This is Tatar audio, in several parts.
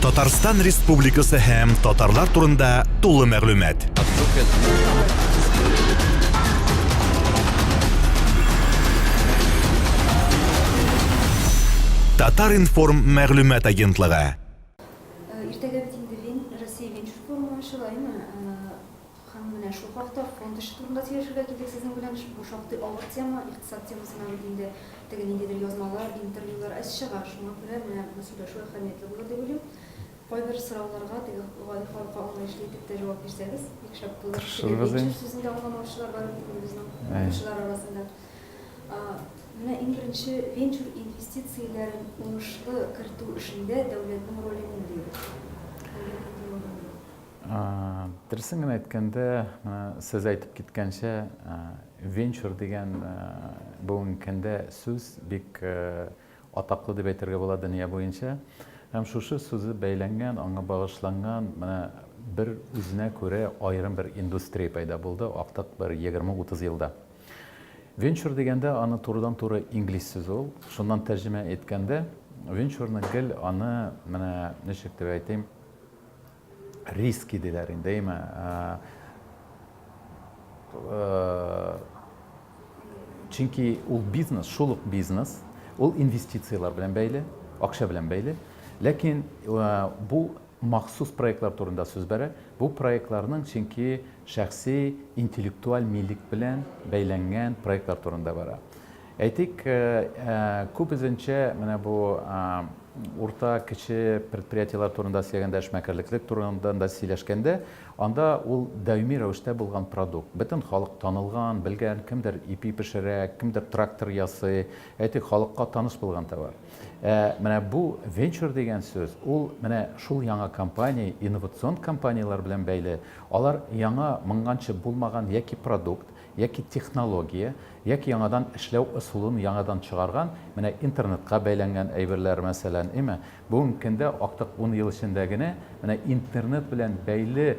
Татарстан Республикасы һәм татарлар турында тулы мәгълүмат. Татар информ мәгълүмат агентлыгы. Иртәгә бит инде Россия Венчур форумы ачыла, әйме? Һәм менә шул хакта, фонд эше турында сөйләшергә килдек сезнең белән. Бу шактый авыр тема, икътисад темасына бит инде теге ниндидер язмалар, интервьюлар әз чыга. Шуңа күрә менә бу сөйләшү әһәмиятле булыр дип уйлыйм. Кайбер сорауларга теге гади халыкка аңлаешлы итеп тә җавап бирсәгез, бик шәп булыр. Теге венчур сүзен дә аңламаучылар бар бит инде безнең укучылар арасында. Менә иң беренче, венчур инвестицияләрен уңышлы кертү эшендә дәүләтнең роле нинди? Дәүләтнең ни роле? Дөресен генә әйткәндә, сез әйтеп киткәнчә, венчур дигән бүгенге көндә сүз бик атаклы дип әйтергә була дөнья буенча. Һәм шушы сүзе бәйләнгән, аңа багышланган менә бер үзенә күрә аерым бер индустрия пәйда булды актык бер 20-30 елда. Венчур дигәндә аны турыдан-туры инглиз сүзе ул. Шуннан тәрҗемә әйткәндә, венчурны гел аны менә ничек дип әйтим, риски диләр инде, әйме, чөнки ул бизнес, шул ук бизнес, ул инвестицияләр белән бәйле, акча белән бәйле. Ләкин бу махсус проектлар турында сүз бара. Бу проектларның чөнки шәхси интеллектуаль милек белән бәйләнгән проектлар турында бара. Әйтик, күп үзенчә менә бу урта, кече предприятиеләр турында сөйләгәндә, эшмәкәрлеклек турында да сөйләшкәндә, анда ул даими рәвештә булган продукт. Бөтен халык танылган, белгән, кемдер ипи пешерә, кемдер трактор ясый, әйтик, халыкка таныш булган товар. Ә менә бу венчур дигән сүз, ул менә шул яңа компания, инновацион компанияләр белән бәйле. Алар яңа, моңганчы булмаган яки продукт, яки технология, яки яңадан эшләү ысулын яңадан чыгарган, менә интернетка бәйләнгән әйберләр, мәсәлән, име? Бүгенге көндә актык ун ел эчендә генә менә интернет белән бәйле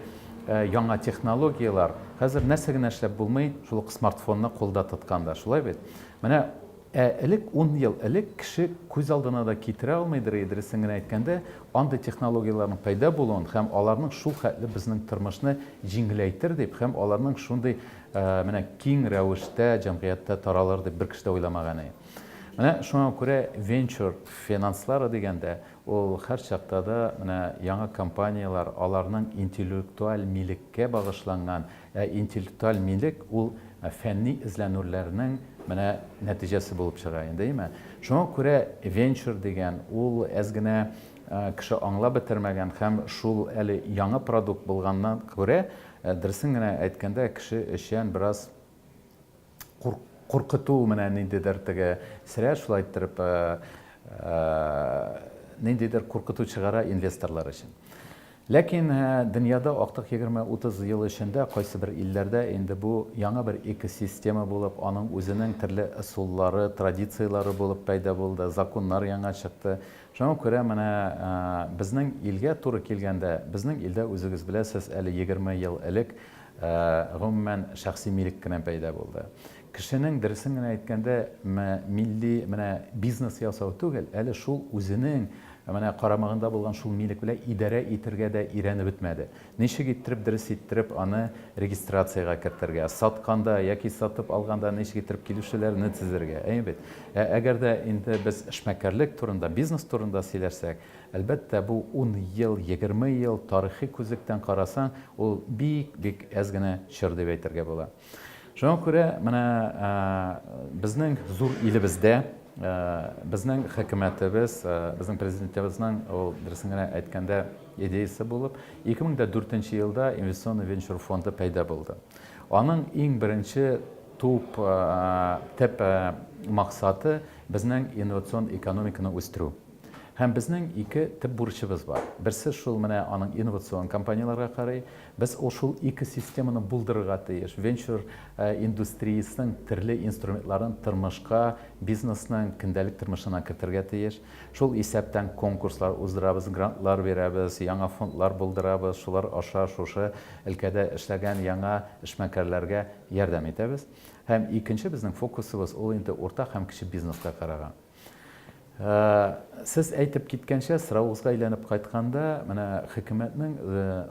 яңа технологияләр, хәзер нәрсә генә эшләп булмый, шул ук смартфонны кулда тотканда, шулай бит? Менә Ә элек, ун ел элек, кеше күз алдына да китерә алмыйдыр иде, дөресен генә әйткәндә, андый технологияләрнең пәйда булуын һәм аларның шул хәтле безнең тормышны җиңеләйтер дип һәм аларның шундый менә киң рәвештә җәмгыятьтә таралыр дип бер кеше дә уйламаган иде. Менә шуңа күрә венчур финанслары дигәндә, ул һәрчакта да менә яңа компанияләр, аларның интеллектуаль милеккә багышланган, Ә интеллектуаль милек ул фәнни эзләнүләрнең менә нәтиҗәсе булып чыга инде, име? Шуңа күрә венчур дигән ул әз генә кеше аңлап бетермәгән һәм шул әле яңа продукт булганнан күрә, дөресен генә әйткәндә, кеше өчен бераз Куркыту менә ниндидер теге срә шулай иттереп ниндидер куркыту чыгара инвесторлар өчен. Ләкин дөньяда актык егерме-утыз ел эчендә кайсыбер илләрдә инде бу яңа бер экосистема булып, аның үзенең төрле ысуллары, традицияләре булып пәйда булды, законнар яңа чыкты. Шуңа күрә менә безнең илгә туры килгәндә, безнең илдә үзегез беләсез, әле егерме ел элек Ә, гомумән, шәхси милек кенә пәйда булды. Кешенең, дөресен генә әйткәндә, мә, милли менә бизнес ясау түгел, әле шул үзенең менә карамагында булган шул милек белән идарә итергә дә өйрәнеп бетмәде. Ничек иттереп, дөрес иттереп аны регистрациягә кертергә, сатканда яки сатып алганда ничек иттереп килүчеләрне тезергә, әйе бит? Ә әгәр дә инде без эшмәкәрлек турында, бизнес турында сөйләшсәк, Әлбәттә, бу ун ел, егерме ел, тарихи күзлектән карасаң, ул бик-бик әз генә чор дип әйтергә була. Шуңа күрә менә безнең зур илебездә безнең хөкүмәтебез, безнең президентыбызның ул дөресен генә әйткәндә идеясе булып, 2004 елда инвестиционный венчур фонды пәйда булды. Аның иң беренче туп төп максаты безнең инновацион экономиканы үстерү. Һәм безнең ике төп бурычыбыз бар. Берсе шул менә аның инновацион компанияләргә карый. Без ул шул ике системаны булдырырга тиеш. Венчур индустриясенең төрле инструментларын тормышка, бизнесның көндәлек тормышына кертергә тиеш. Шул исәптән конкурслар уздырабыз, грантлар бирәбез, яңа фондлар булдырабыз, шулар аша шушы өлкәдә эшләгән яңа эшмәкәрләргә ярдәм итәбез. Һәм икенче безнең фокусыбыз ул инде урта һәм кече бизнеска караган. Сез әйтеп киткәнчә, соравыгызга әйләнеп кайтканда, менә хөкүмәтнең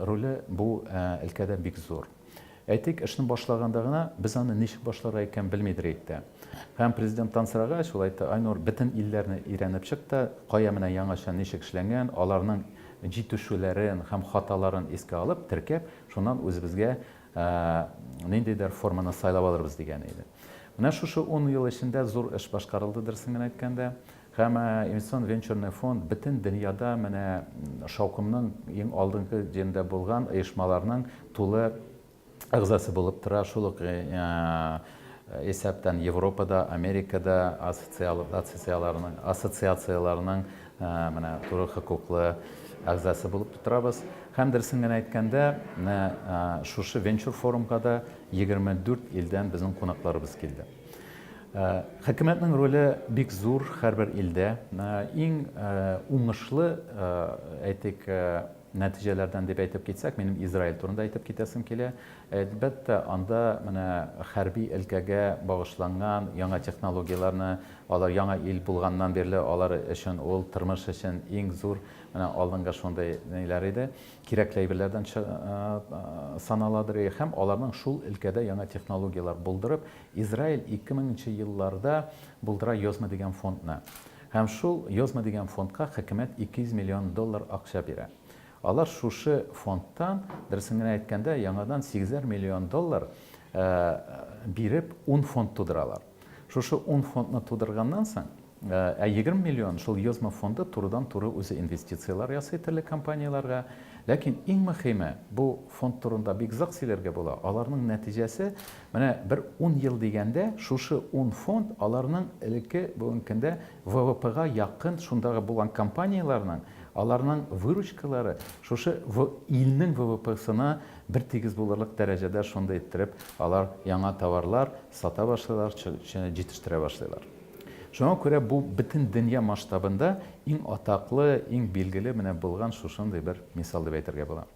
роле бу өлкәдә бик зур. Әйтик, эшне башлаганда гына без аны ничек башларга икән белмидер идек тә. Һәм президенттан сорагач, ул әйтте, Айнур, бөтен илләрне өйрәнеп чык та, кая менә яңача ничек эшләнгән, аларның җитешүләрен һәм хаталарын искә алып, теркәп, шуннан үзебезгә ниндидер форманы сайлап алырбыз, дигән иде. Менә шушы ун ел эчендә зур эш башкарылды, дөресен генә әйткәндә. Һәм Инвестицион венчурный фонд бөтен дөньяда менә шаукымның иң алдынгы җирендә булган оешмаларның тулы әгъзасы булып тора, шул ук исәптән Европада, Америкада ассоциацияләренең менә туры хокуклы әгъзасы булып торабыз. Һәм дөресен генә әйткәндә, менә шушы венчур-форумга да 24 илдән безнең кунакларыбыз килде. Э, хөкүмәтнең роле бик зур һәрбер илдә. Э, иң э, уңышлы, әйтик, нәтиҗәләрдән дип әйтеп китсәк, минем Израиль турында әйтеп китәсем килә. Әлбәттә, анда менә хәрби өлкәгә багышланган яңа технологияләрне, алар яңа ил булганнан бирле алар өчен ул тормыш өчен иң зур менә алдынгы шундый ниләр иде. кирәкле әйберләрдән саналадыр, һәм аларның шул өлкәдә яңа технологияләр булдырып, Израиль 2000 нче елларда булдыра Йозма дигән фондны. Һәм шул Йозма дигән фондка хөкүмәт 200 миллион доллар акча бирә. Алар шушы фондтан, дөресен генә әйткәндә, яңадан сигезәр миллион доллар биреп, ун фонд тудыралар. Шушы ун фондны тудырганнан соң, Ә егерме миллион шул ЕОСМО фонды турыдан-туры үзе инвестицияләр ясый төрле компанияләргә. Ләкин иң мөхиме, бу фонд турында бик озак сөйләргә була, аларның нәтиҗәсе, менә бер ун ел дигәндә, шушы ун фонд аларның элекке, бүгенге көндә ВВПга якын шундагы булган компанияләрнең, аларның выручкалары шушы илнең ВВПсына бертигез булырлык дәрәҗәдә шундый иттереп алар яңа товарлар сата башлыйлар, җитештерә башлыйлар. Шуңа күрә бу бөтен дөнья масштабында иң атаклы, иң билгеле менә булган шушындый бер мисал дип әйтергә була.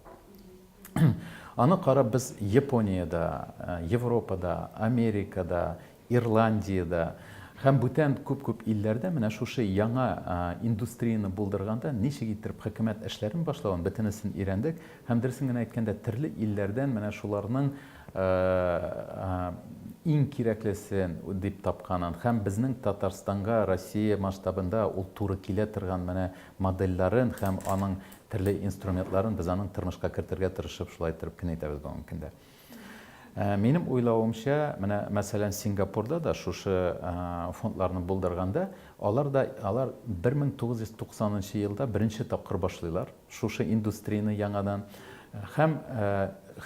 Аны карап без Япониядә, Европада, Америкада, Ирландиядә һәм бүтән күп-күп илләрдә менә шушы яңа индустрияне булдырганда ничек иттереп хөкүмәт эшләрен башлавын бөтенесен өйрәндек һәм дөресен генә әйткәндә терле илләрдән менә шуларның иң кирәклесен дип тапканын һәм безнең Татарстанга Россия масштабында ул туры килә торган менә модельләрен һәм аның төрле инструментларын без аның тормышка кертергә тырышып шулай иттереп кенә әйтәбез бүгенге көндә. Минем уйлавымча, менә мәсәлән Сингапурда да шушы фондларны булдырганда, алар да, алар 1990 нчы елда беренче тапкыр башлыйлар. шушы индустрияне яңадан һәм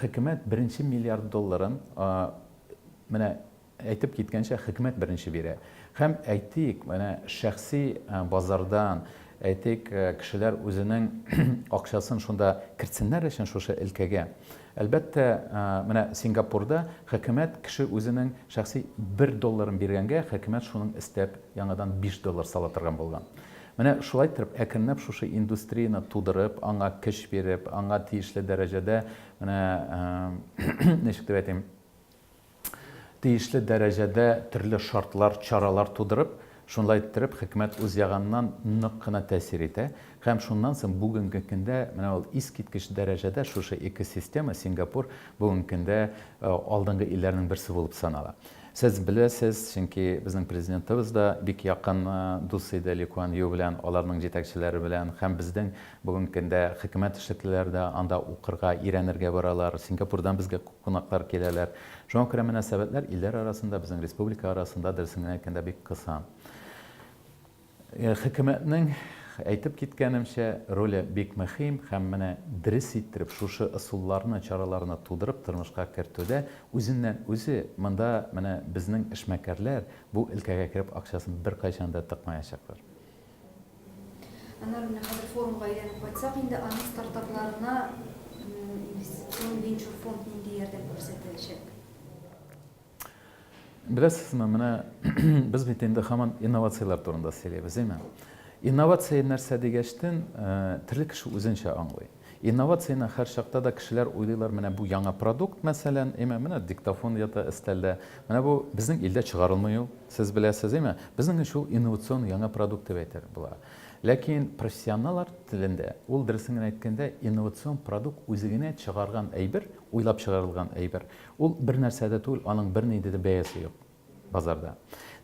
хөкүмәт беренче миллиард долларын менә әйтеп киткәнчә хөкүмәт беренче бирә һәм әйтик менә шәхси базардан әйтик кешеләр үзенең акчасын шунда кертсеннәр өчен шушы өлкәгә әлбәттә менә сингапурда хөкүмәт кеше үзенең шәхси бер долларын биргәнгә хөкүмәт шуның өстәп яңадан биш доллар сала торган булган Менә шулай иттереп, әкренләп шушы индустрияне тудырып, аңа көч биреп, аңа тиешле дәрәҗәдә, менә, ничек дип әйтим, тиешле дәрәҗәдә төрле шартлар, чаралар тудырып, шулай иттереп, хөкүмәт үз ягыннан нык кына тәэсир итә. Һәм шуннан соң бүгенге көндә менә ул искиткеч дәрәҗәдә шушы экосистема, Сингапур, бүгенге көндә алдынгы илләрнең берсе булып санала. Сез беләсез, чөнки безнең Президентыбыз да бик якын дус иде Ли Куан Ю белән, аларның җитәкчеләре белән һәм безнең бүгенге көндә хөкүмәт эшлеклеләре дә анда укырга, өйрәнергә баралар, Сингапурдан безгә күп кунаклар киләләр. Шуңа күрә мөнәсәбәтләр илләр арасында, безнең республика арасында, дөресен генә әйткәндә, бик кыса. Хөкүмәтнең әйтеп киткәнемчә, роле бик мөхим һәм менә дерес иттереп шушы ысулларны, чараларны тудырып тормышка кертүдә үзеннән-үзе монда менә безнең эшмәкәрләр бу өлкәгә кереп акчасын беркайчан да тыкмаячаклар. Аннары менә хәзер форумга әйләнеп кайтсак инде, аның стартапларына инвестицион венчур фонд нинди ярдәм күрсәтәчәк? Беләсезме, менә без бит инде хаман инновацияләр турында сөйлибез, әйме? Инновация нәрсә дигәчтен, э, төрле кеше үзенчә аңлый. Инновацияне һәр чакта да кешеләр уйлыйлар, менә бу яңа продукт, мәсәлән, әйме, менә диктофон ята өстәлдә. Менә бу безнең илдә чыгарылмый ул, сез беләсез, әйме? Безнең өчен ул инновацион яңа продукт дип әйтер була. Ләкин профессионаллар телендә ул дөресен генә әйткәндә инновацион продукт үзе генә чыгарган әйбер, уйлап чыгарылган әйбер. Ул бернәрсә дә түгел, аның бернинди дә бәясе юк базарда.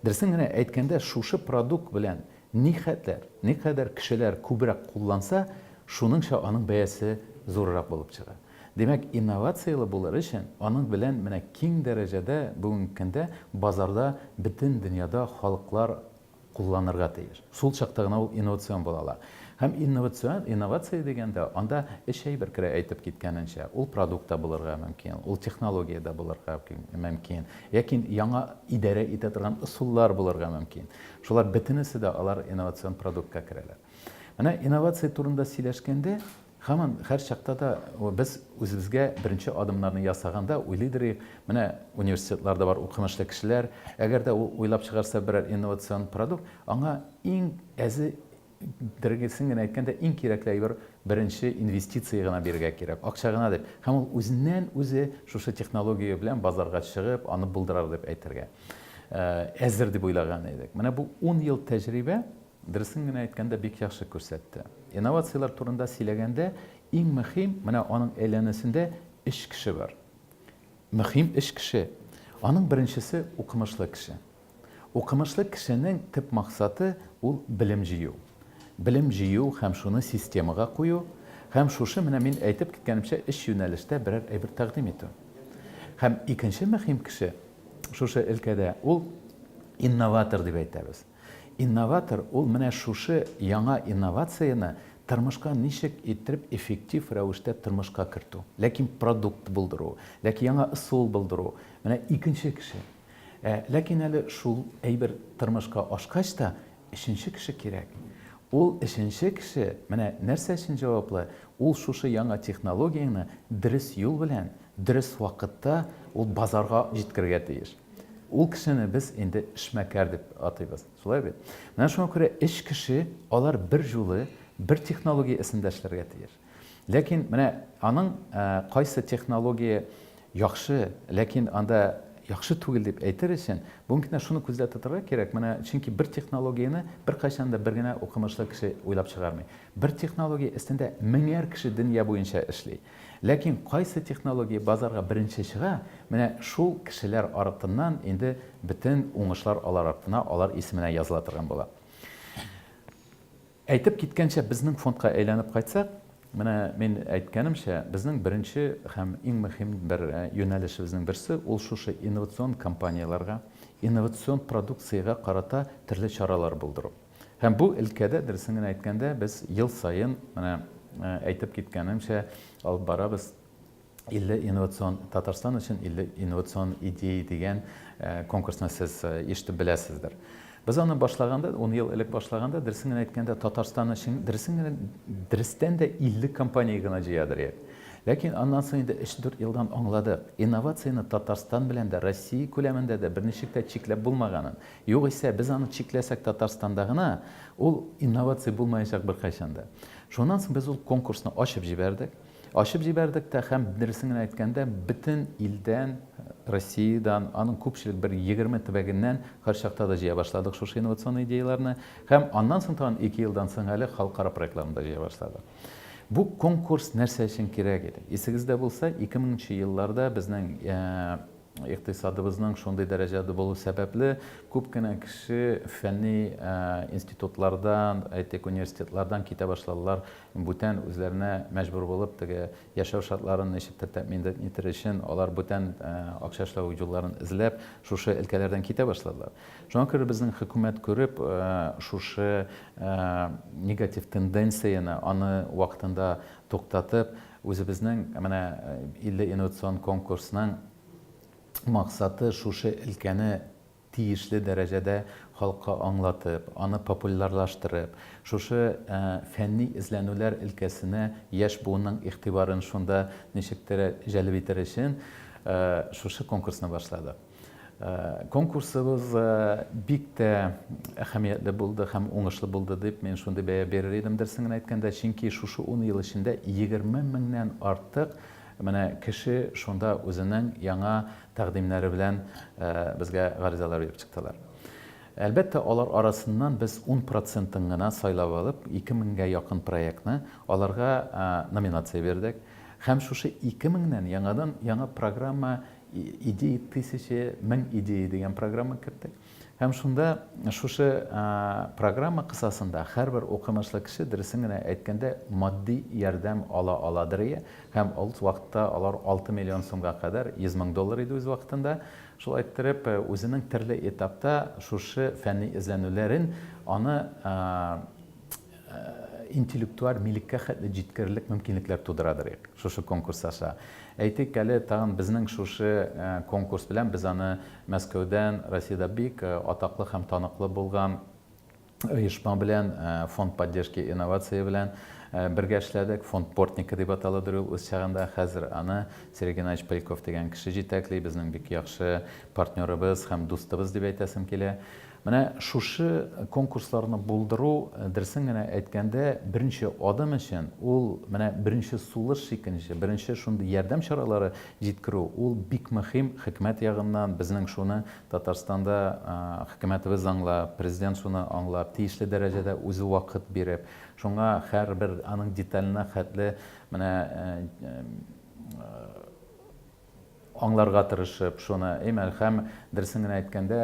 Дөресен генә әйткәндә, шушы продукт белән нихәтләр, никадәр кешеләр күбрәк кулланса, шуныңча аның бәясе зуррак булып чыга. Димәк, инновацияле булыр өчен, аның белән менә киң дәрәҗәдә бүгенге көндә базарда бөтен дөньяда халыклар кулланырга тиеш. Шул чакта гына ул инновацион була ала. Һәм инновацион, инновация дигәндә, анда өч әйбер керә, әйтеп киткәнемчә. Ул продукт та булырга мөмкин, ул технология дә булырга мөмкин, яки яңа идарә итә торган ысуллар булырга мөмкин. Шулар бөтенесе дә алар инновацион продуктка керәләр. Менә инновация турында сөйләшкәндә, Һаман, һәр чакта да без үзебезгә беренче адымнарны ясаганда уйлыйдыр идек, менә университетларда бар укымышлы кешеләр, әгәр дә ул уйлап чыгарса берәр инновацион продукт, аңа иң әзе дергесен генә әйткәндә, иң кирәкле әйбер беренче инвестиция гына бирергә кирәк, акча гына дип. Һәм ул үзеннән-үзе шушы технология белән базарга чыгып, аны булдырыр дип әйтергә әзер дип уйлаган идек. Менә бу ун ел тәҗрибә, Дөресен генә әйткәндә, бик яхшы күрсәтте. Инновацияләр турында сөйләгәндә, иң мөһим, менә аның әйләнәсендә өч кеше бар. Мөһим өч кеше. Аның беренчесе, укымышлы кеше. Укымышлы кешенең төп максаты, ул белем җыю. Белем җыю һәм шуны системага кую, һәм шушы менә мин әйтеп киткәнемчә өч юнәлештә берәр әйбер тәкъдим итү. Һәм икенче мөһим кеше шушы өлкәдә, ул инноватор дип әйтәбез. Инноватор ул менә шушы яңа инновацияне тормышка ничек иттереп эффектив рәвештә тормышка кертү, ләкин продукт булдыру, ләкин яңа ысул булдыру, менә икенче кеше. Ә ләкин әле шул әйбер тормышка ашкач та, өченче кеше кирәк. Ул өченче кеше менә нәрсә өчен җаваплы, ул шушы яңа технологияне дөрес юл белән, дөрес вакытта ул базарга җиткерергә тиеш. Ул кешене без инде эшмәкәр дип атыйбыз, шулай бит? Менә шуңа күрә эш кеше алар бер җулы бер технология эсендә эшләргә тиеш. Ләкин менә аның кайсы технология яхшы, ләкин анда яхшы түгел дип әйтер өчен, бүгенге көндә шуны күздә тотарга кирәк. Менә чөнки бер технологияне беркайчан да бер генә укымышлы кеше уйлап чыгармый. Бер технология эстендә меңәр кеше дөнья буенча эшли. Ләкин кайсы технология базарга беренче чыга, менә шул кешеләр артыннан инде бөтен уңышлар алар артына, алар исеменә языла торган була. Әйтеп киткәнчә, безнең фондка әйләнеп кайтсак, менә мин әйткәнемчә, безнең беренче һәм иң мөһим бер юнәлешебезнең берсе, ул шушы инновацион компанияләргә, инновацион продукциягә карата төрле чаралар булдыру. Һәм бу өлкәдә, дөресен генә әйткәндә, без ел саен, менә әйтеп киткәнемчә, алып барабыз 50 инновацион Татарстан өчен 50 инновацион идея дигән конкурсны сез ишетеп беләсездер. Без аны башлаганда, 10 ел элек башлаганда, дөресен генә әйткәндә, Татарстан өчен дөресен генә дөрестән дә 50 компания гына җыядыр идек. Ләкин аннан соң инде 3-4 елдан аңладык, инновацияне Татарстан белән дә, Россия күләмендә дә берничек тә чикләп булмаганын. Югыйсә, без аны чикләсәк Татарстанда гына, ул инновация булмаячак беркайчан да. Шуннан соң без ул конкурсны ачып җибәрдек. Ачып җибәрдек тә һәм, дөресен генә әйткәндә, бөтен илдән, Россиядән, аның күпчелек бер егерме төбәгеннән, һәрчакта да җыя башладык шушы инновацион идеяләрне. Һәм аннан соң тагын ике елдан соң әле халыкара проектларны да җыя башладык. Бу конкурс нәрсә өчен кирәк иде? Исегездә булса, ике меңенче елларда безнең Икътисадыбызның шундый дәрәҗәдә булу сәбәпле, күп кенә кеше фәнни институтлардан, әйтик, университетлардан китә башладылар, бүтән үзләренә мәҗбүр булып, теге яшәү шартларын ничектер тәэмин итер өчен, алар бүтән акча эшләү юлларын эзләп, шушы өлкәләрдән китә башладылар. Шуңа күрә безнең хөкүмәт күреп, шушы негатив тенденцияне, аны вакытында туктатып, Үзебезнең менә илле инновацион конкурсның максаты шушы өлкәне тиешле дәрәҗәдә халыкка аңлатып, аны популярлаштырып, шушы фәнни эзләнүләр өлкәсенә яшь буынның игътибарын шунда ничектер җәлеп итер өчен шушы конкурсны башладык. Конкурсыбыз бик тә әһәмиятле булды һәм уңышлы булды дип, мин шундый бәя бирер идем, дөресен генә әйткәндә, чөнки шушы ун ел эчендә 20 меңнән артык менә кеше шунда үзенең яңа тәкъдимнәре белән безгә гаризалар биреп чыктылар. Әлбәттә, алар арасыннан без ун процентын гына сайлап алып, ике меңгә якын проектны аларга номинация бирдек. Һәм шушы ике меңнән яңадан яңа программа Идеи тысячи, мең идеи, дигән программа керттек. Һәм шунда шушы программа кысасында һәрбер укымышлы кеше, дөресен генә әйткәндә, матди ярдәм ала аладырые. Һәм ул вакытта алар 6 миллион сумга кадәр, 100 мең доллар иде үз вакытында. Шулай иттереп, үзенең төрле этапта шушы фәнни эзләнүләрен, аны интеллектуаль милеккә хәтле җиткерерлек мөмкинлекләр тудырадыр шушы конкурс аша. Әйтик әле, тагын безнең шушы конкурс белән без аны Мәскәүдән, Россиядә бик атаклы һәм таныклы булган оешма белән, Фонд поддержки инновации белән бергә эшләдек. Фонд Портника дип аталадыр ул үз чагында. Хәзер аны Сергей Геннадьевич Поляков дигән кеше җитәкли, безнең бик яхшы партнерыбыз һәм дустыбыз дип әйтәсем килә. Менә шушы конкурсларны булдыру, дөресен генә әйткәндә, беренче адым өчен, ул менә беренче сулыш чикенеше, беренче шундый ярдәм чаралары җиткерү, ул бик мөһим, хөкүмәт ягыннан безнең шуны Татарстанда хөкүмәтебез аңлап, Президент шуны аңлап, тиешле дәрәҗәдә үзе вакыт биреп, шуңа һәрбер аның деталенә хәтле менә Аңларга тырышып, шуны, и Мәлхәм, дөресен генә әйткәндә,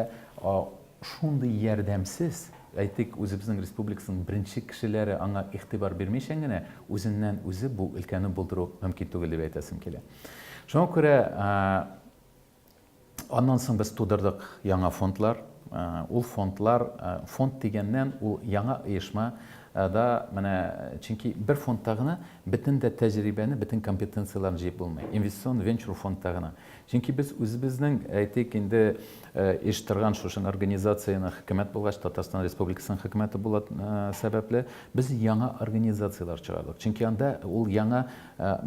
шундый ярдәмсез, әйтик, үзебезнең республикасының беренче кешеләре аңа игътибар бирмичән генә, үзеннән-үзе бу өлкәне булдыру мөмкин түгел дип әйтәсем килә. Шуңа күрә аннан соң без тудырдык яңа фондлар. Ул фондлар, фонд дигәннән, ул яңа оешма да менә, чөнки бер фондта гына Бөтен дә тәҗрибәне, бөтен компетенцияләрне җыеп булмый. Инвестицион венчур фондта гына. Чөнки без үзебезнең, әйтик инде, еш торган шушы организациянең хөкүмәт булгач, Татарстан Республикасының хөкүмәте була сәбәпле, без яңа организацияләр чыгардык. Чөнки анда ул яңа,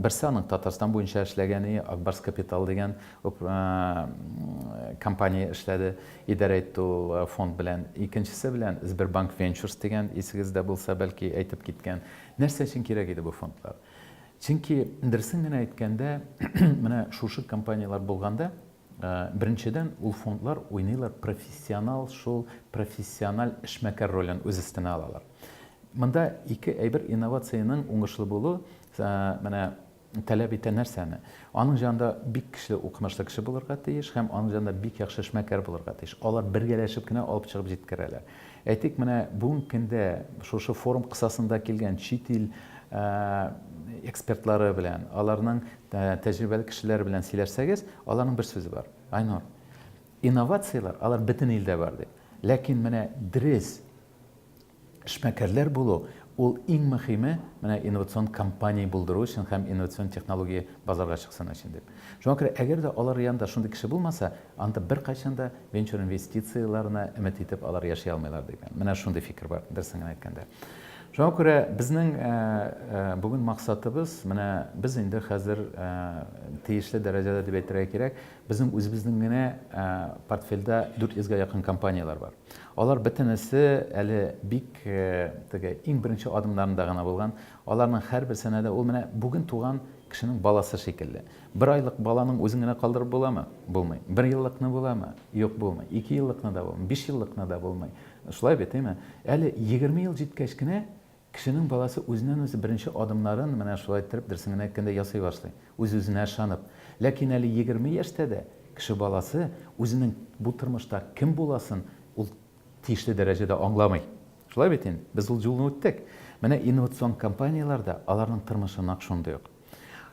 берсе аның Татарстан буенча эшләгәне, Ак Барс Капитал дигән компания эшләде, идарә итте ул фонд белән. Икенчесе белән Сбербанк Венчурс дигән, исегездә булса, бәлки әйтеп киткән. Нәрсә өчен кирәк иде бу фондлар? Чөнки, дөресен генә әйткәндә, менә шушы компанияләр булганда, беренчедән, ул фондлар уйныйлар профессионал, шул профессиональ эшмәкәр ролен үз өстенә алалар. Монда ике әйбер, инновациянең уңышлы булу, менә, Таләп итә нәрсәне? Аның җанында бик көчле укымышлы кеше булырга тиеш һәм аның җанында бик яхшы эшмәкәр булырга тиеш. Алар бергәләшеп кенә алып чыгып җиткерәләр. Әйтик, менә бүгенге көндә шушы форум кысасында килгән чит ил экспертлары белән, аларның тәҗрибәле кешеләре белән сөйләшсәгез, аларның бер сүзе бар. Айнур, инновацияләр, алар бөтен илдә бар дип. Ләкин менә дөрес Эшмәкәрләр булу, ул иң мөхиме, менә инновацион компания булдыру өчен һәм инновацион технология базарга чыксын өчен дип. Шуңа күрә, әгәр дә алар янында шундый кеше булмаса, анда беркайчан да венчур инвестицияләренә өмет итеп алар яши алмыйлар дигән, менә шундый фикер бар, дөресен генә әйткәндә. Шуңа күрә безнең бүген максатыбыз, менә без инде хәзер тиешле дәрәҗәдә дип әйтергә кирәк, безнең үзебезнең генә портфельдә 400 гә якын компанияләр бар. Алар бөтенесе әле бик теге иң беренче адымнарында гына булган. Аларның һәрберсенә дә ул менә бүген туган кешенең баласы шикелле. Бер айлык баланың үзен генә калдырып буламы? Булмый. Бер еллыкны буламы? Юк, булмый. Ике еллыкны да булмый. Биш еллыкны да булмый. Шулай бит, әйме? Әле егерме ел җиткәч кенә Кешенең баласы үзеннән-үзе беренче адымнарын, менә шулай иттереп, дөресен генә әйткәндә, ясый башлый, үз-үзенә ышанып. Ләкин әле егерме яшьтә дә кеше баласы үзенең бу тормышта кем буласын ул тиешле дәрәҗәдә аңламый. Шулай бит инде? Без ул юлны үттек. Менә инновацион компанияләр дә аларның тормышы нәкъ шундый ук.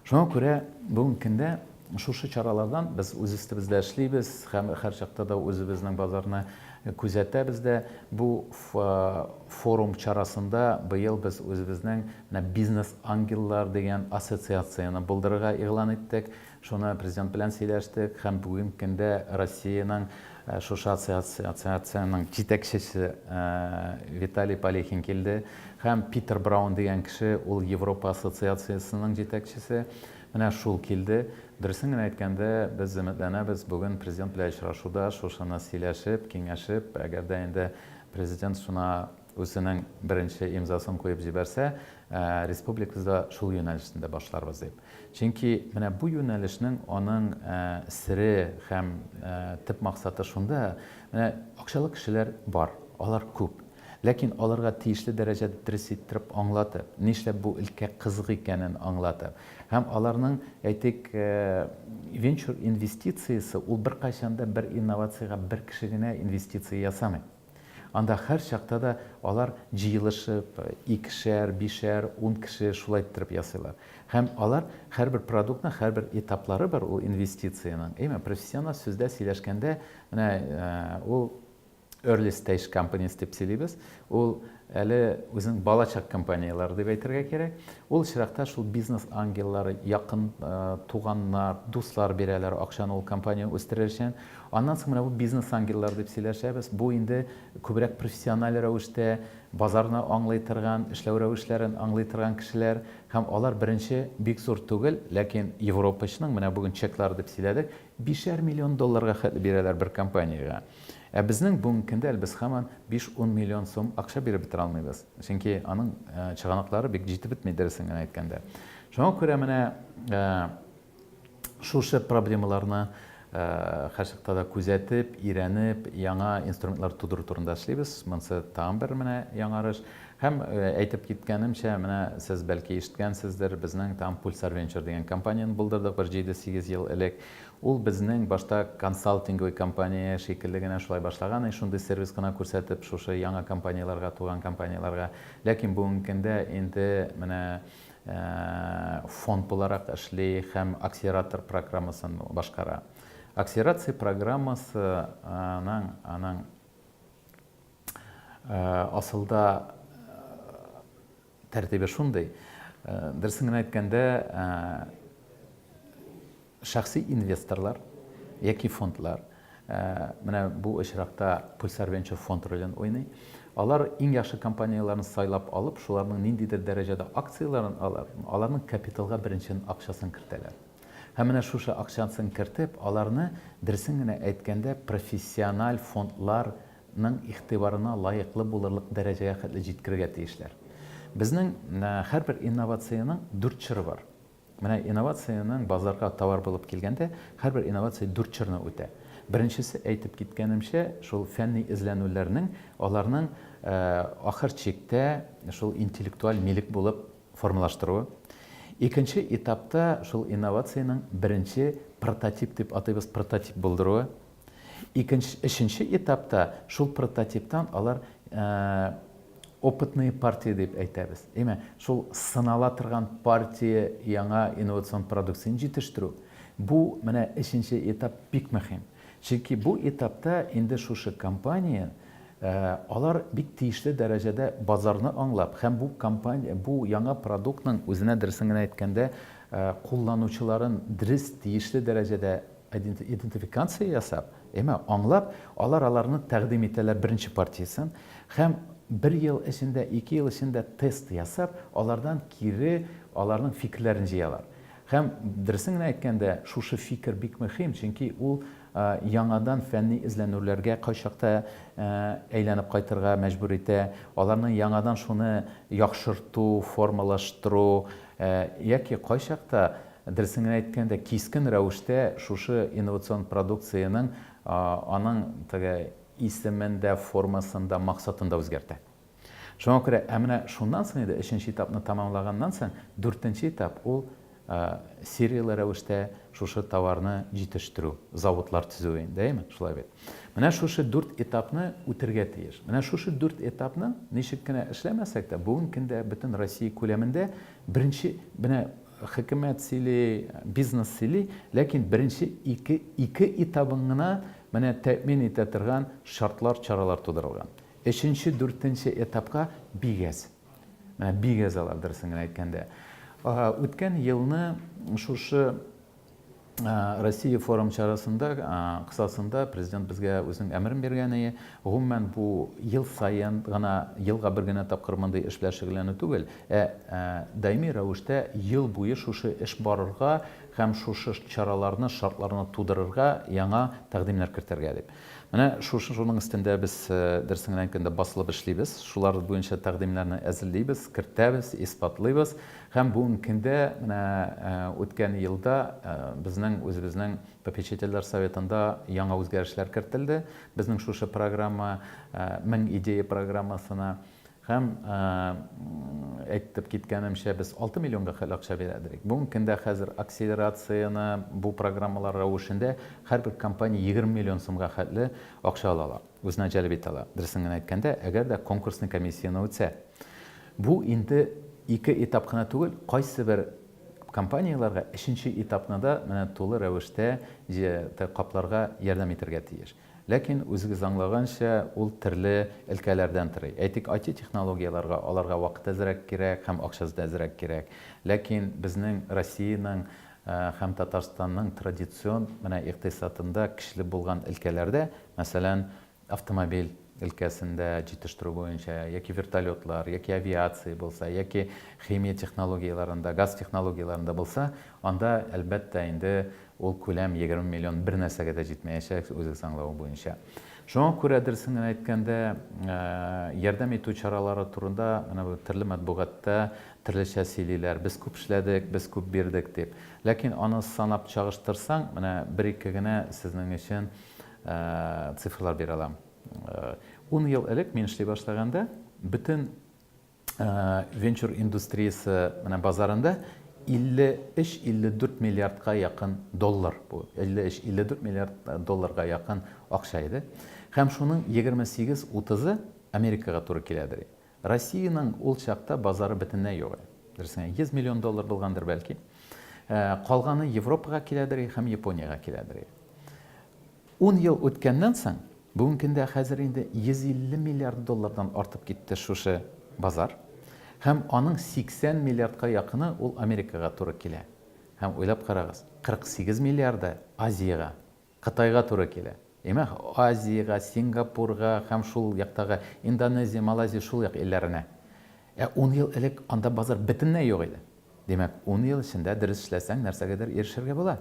Шуңа күрә бүгенге көндә шушы чаралардан без үз өстебездә эшлибез һәм һәрчакта да үзебезнең базарны күзәтәбез дә. Бу форум чарасында быел без үзебезнең Менә Бизнес-ангеллар дигән ассоциацияне булдырырга игълан иттек. Шуны Президент белән сөйләштек һәм бүгенге көндә Россиянең шушы ассоциациянең җитәкчесе Виталий Полехин килде һәм Питер Браун дигән кеше, ул Европа ассоциациясенең җитәкчесе, менә шул килде. Дөресен генә әйткәндә, без өметләнәбез, бүген Президент белән очрашуда шушыны сөйләшеп, киңәшеп, әгәр дә инде Президент шуна Үзенең беренче имзасын куеп җибәрсә, республикада шул юнәлешне дә башларбыз дип. Чөнки менә бу юнәлешнең аның сере һәм төп максаты шунда, менә акчалы кешеләр бар, алар күп. Ләкин аларга тиешле дәрәҗәдә дөрес иттереп аңлатып, нишләп бу өлкә кызык икәнен аңлатып һәм аларның, әйтик, венчур инвестициясе ул беркайчан да бер инновациягә бер кеше генә инвестиция ясамый. Анда һәрчакта да алар җыелышып, икешәр, бишәр, ун кеше шулай иттереп ясыйлар. Һәм алар һәрбер продуктның һәрбер этаплары бар ул инвестициянең. Әйме, профессиональ сүздә сөйләшкәндә, менә ул early stage companies дип сөйлибез, ул Әле үзенең балачак компанияләре дип әйтергә кирәк. Ул очракта шул бизнес ангеллары, якын туганнар, дуслар бирәләр акчаны ул компанияне үстерер өчен. Аннан соң менә бу бизнес ангеллар дип сөйләшәбез. Бу инде күбрәк профессиональ рәвештә базарны аңлый торган, эшләү рәвешләрен аңлый торган кешеләр һәм алар беренче бик зур түгел, ләкин европачның, менә бүген чеклар дип сөйләдек, Бишәр миллион долларга хәтле бирәләр бер компаниягә. Ә безнең бүгенге көндә әле без һаман биш-ун миллион сум акча биреп бетерә алмыйбыз. Чөнки аның чыганаклары бик җитеп бетми, дөресен генә әйткәндә. Шуңа күрә менә шушы проблемаларны һәрчакта да күзәтеп, өйрәнеп, яңа инструментлар тудыру турында эшлибез. Монысы тагын бер менә яңарыш. Һәм, әйтеп киткәнемчә, менә сез, бәлки, ишеткәнсездер, безнең там Pulsar Venture дигән компанияне булдырдык бер җиде-сигез ел элек. Ул безнең башта консалтинговый компания шикелле генә шулай башлаган и шундый сервис кына күрсәтеп шушы яңа компанияләргә, туган компанияләргә. Ләкин бүгенге көндә инде менә фонд буларак эшли һәм акселератор программасын башкара. Акселерация программасының аның. Асылда тәртибе шундый. Дөресен генә әйткәндә, шәхси инвесторлар яки фондлар, менә бу очракта Pulsar Venture фонд ролен уйный, алар иң яхшы компанияләрне сайлап алып, шуларның ниндидер дәрәҗәдә акцияләрен алып, аларның капиталга беренче акчасын кертәләр. Һәм менә шушы акчасын кертеп, аларны, дөресен генә әйткәндә, профессиональ фондлар ның игътибарына лаеклы булырлык дәрәҗәгә хәтле җиткерергә тиешләр. Безнең һәрбер инновациянең дүрт чоры бар. Менә инновациянең базарга товар булып килгәндә, һәрбер инновация дүрт чорны үтә. Беренчесе, әйтеп киткәнемчә, шул фәнни эзләнүләрнең, аларның ахыр чиктә шул интеллектуаль милек булып формалаштыруы. Икенче этапта шул инновациянең беренче прототип дип атыйбыз, прототип булдыруы. Икенче, өченче этапта шул прототиптан алар опытные партии дип әйтәбез. Әйме, шул сынала торган партия яңа инновацион продукцияне җитештерү. Бу менә өченче этап бик мөһим. Чөнки бу этапта инде шушы компания алар бик тиешле дәрәҗәдә базарны аңлап һәм бу компания бу яңа продуктның үзенә дөресен генә әйткәндә кулланучыларын дөрес тиешле дәрәҗәдә Идентификация ясап, яме аңлап, алар аларны тәкъдим итәләр беренче партиясен һәм бер ел эчендә, ике ел эчендә тест ясап, алардан кире аларның фикерләрен җыялар. Һәм, дөресен генә әйткәндә, шушы фикер бик мөһим, чөнки ул яңадан фәнни эзләнүләргә кайчакта әйләнеп кайтырга мәҗбүр итә, аларны яңадан шуны яхшырту, формалаштыру яки кайчакта Дөресен генә әйткәндә, кискен рәвештә шушы инновацион продукциянең аның теге исемен дә, формасын да, максатын да үзгәртә. Шуңа күрә, ә менә шуннан соң инде, өченче этапны тәмамлаганнан соң, дүртенче этап, ул серияле рәвештә шушы товарны җитештерү, заводлар төзү инде, әйеме? Шулай бит. Менә шушы дүрт этапны үтергә тиеш. Менә шушы дүрт этапны ничек кенә эшләмәсәк тә, бүгенге көндә бөтен Россия күләмендә беренче, менә Хөкүмәт сөйли, бизнес сөйли, ләкин беренче ике ике этабын гына менә тәэмин итә торган шартлар, чаралар тудырылган. Өченче, дүртенче этапка бик әз. Менә бик әз алар, дөресен генә әйткәндә. Үткән елны шушы Э, Россия форум чарасында э, кысасында президент безгә үзенең әмерен биргәне, гомумән бу ел саен гына, елга бер генә тапкыр мондый эш белән шөгыльләнү түгел, ә э, даими рәвештә ел буе шушы эш барырга һәм шушы чараларны, шартларны тудырырга яңа тәкъдимнәр кертергә дип. Менә шушы шуның өстендә без дөресен генә әйткәндә басылып эшлибез. Шулар буенча тәкъдимнәрне әзерлибез, кертәбез, исбатлыйбыз Һәм бүгенге көндә менә үткән елда безнең үзебезнең попечительләр советында яңа үзгәрешләр кертелде, безнең шушы программа, Мең идея программасына. Һәм әйтеп киткәнемчә, без 6 миллионга хәл акча бирә идек. Бүгенге көндә хәзер акселерацияне бу программалар рәвешендә һәрбер компания 20 миллион сумга хәтле акча ала ала, үзенә җәлеп итә ала. Дөресен генә әйткәндә, әгәр дә конкурсный комиссияне үтсә. Бу инде ике этап кына түгел, кайсыбер компанияләргә өченче этапны да менә тулы рәвештә капларга ярдәм итәргә тиеш. Ләкин, үзегез аңлаганча, ул төрле өлкәләрдән торый. Әйтик, IT-технологияләргә аларга вакыт әзрәк кирәк һәм акчасы да әзрәк кирәк. Ләкин безнең Россиянең һәм Татарстанның традицион менә икътисадында көчле булган өлкәләрдә, мәсәлән, автомобиль өлкәсендә җитештерү буенча, яки вертолетлар, яки авиация булса, яки химия технологияләрендә, газ технологияләрендә булса, анда, әлбәттә, инде ул күләм 20 миллион бернәрсәгә дә җитмәячәк, үзегез аңлавы буенча. Шуңа күрә, дөресен генә әйткәндә, ярдәм итү чаралары турында менә бу төрле матбугатта төрлечә сөйлиләр, без күп эшләдек, без күп бирдек дип. Ләкин аны санап чагыштырсаң, менә бер-ике генә сезнең өчен Цифрлар бирә алам. Ун ел элек мин эшли башлаганда, бөтен венчур индустриясе менә базарында 53-54 миллиардка якын доллар бу. 53-54 миллиард долларга якын акча иде. Һәм шуның 28-30-ы Америкага туры киләдер. Россиянең ул чакта базары бөтенләй юк иде. Дөресен әйткәндә, 100 миллион доллар булгандыр, бәлки. Калганы Европага киләдер и һәм Япониягә киләдер и. Ун ел үткәннән соң, бүгенге көндә хәзер инде 150 миллиард доллардан артып китте шушы базар. Һәм аның 80 миллиардка якыны ул Америкага туры килә. Һәм уйлап карагыз, 48 миллиарды Азиягә. Кытайга туры килә. Димәк, Азиягә, Сингапурга һәм шул яктагы Индонезия, Малайзия, шул як илләренә. Ә ун ел элек анда базар бөтенләй юк иде. Димәк, ун ел эчендә дөрес эшләсәң, нәрсәгәдер ирешергә була.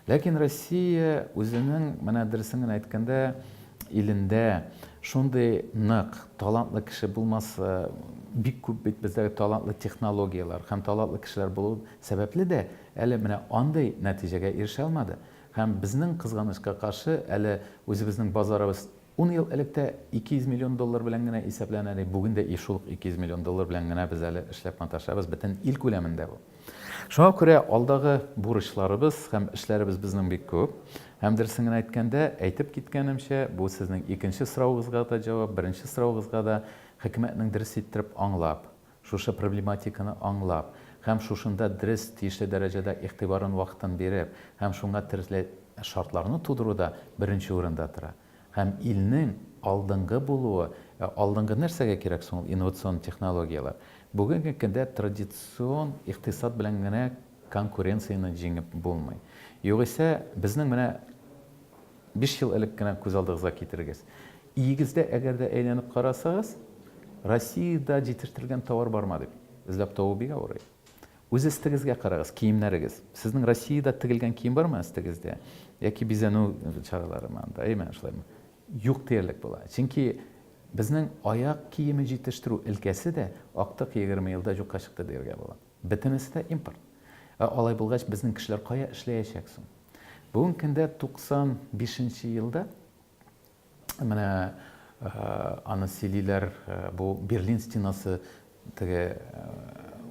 Ләкин Россия үзенең, менә дөресен генә әйткәндә, илендә шундый нык, талантлы кеше булмаса, бик күп бит бездәге талантлы технологияләр һәм талантлы кешеләр булу сәбәпле дә, әле менә андый нәтиҗәгә ирешә алмады. Һәм безнең, кызганычка каршы, әле үзебезнең базарыбыз ун ел элек тә 200 миллион доллар белән генә исәпләнә иде, бүген дә и шул ук 200 миллион доллар белән генә без әле эшләп маташабыз, бөтен ил күләмендә бу. Шуңа күрә алдагы бурычларыбыз һәм эшләребез безнең бик күп. Һәм дөресен генә әйткәндә, әйтеп киткәнемчә, бу сезнең икенче соравыгызга да җавап, беренче соравыгызга да, хөкүмәтнең дөрес иттереп аңлап, Шушы проблематиканы аңлап һәм шушында дрес тиешле дәрәҗәдә игътибарын вакытын биреп һәм шуңа терсле шартларны тудыру да беренче урында тора. Һәм илнең алдынгы булуы Ә алдынгы нәрсәгә кирәк соң ул инновацион технологияләр? Бүгенге көндә традицион икътисад белән генә конкуренцияне җиңеп булмый. Югыйсә, безнең менә. Биш ел элек кенә күз алдыгызга китерегез. Иегездә әгәр дә әйләнеп карасагыз, Россиядә җитертелгән товар барма дип, эзләп табу бик авыр. Үз эстегезгә карагыз, киемнәрегез. Сезнең Россиядә тегелгән кием бармы эстегездә? Яки бизәнү чаралары монда, әйме, шулаймы? Юк диярлек була. Чөнки безнең аяк киеме җитештерү өлкәсе дә актык егерме елда җукка чыкты дияргә була. Бөтенесе дә импорт. Ә алай булгач, безнең кешеләр кая эшләячәк соң? Бүгенге көндә 95 нче елда, менә аны сөйлиләр, бу Берлин стенасы теге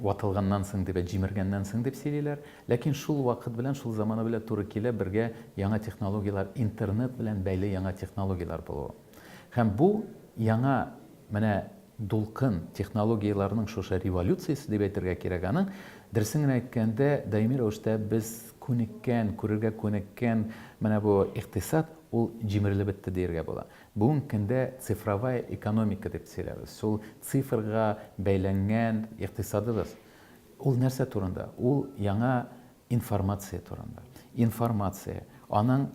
ватылганнан соң дип, җимергәннән соң дип сөйлиләр. Ләкин шул вакыт белән, шул заманы белән туры килә бергә яңа технологияләр, интернет белән бәйле яңа технологияләр булуы. Һәм бу яңа Менә Дулкын, технологияләрнең шушы революциясе дип әйтергә кирәк аны. Дөресен генә әйткәндә, даими рәвештә без күнеккән, күрергә күнеккән менә бу икътисад, ул җимерелеп бетте диергә була. Бүгенге көндә цифровая экономика дип сөйләбез. Шул цифрга бәйләнгән икътисадыбыз. Ул нәрсә турында? Ул яңа Информация турында. Информация, аның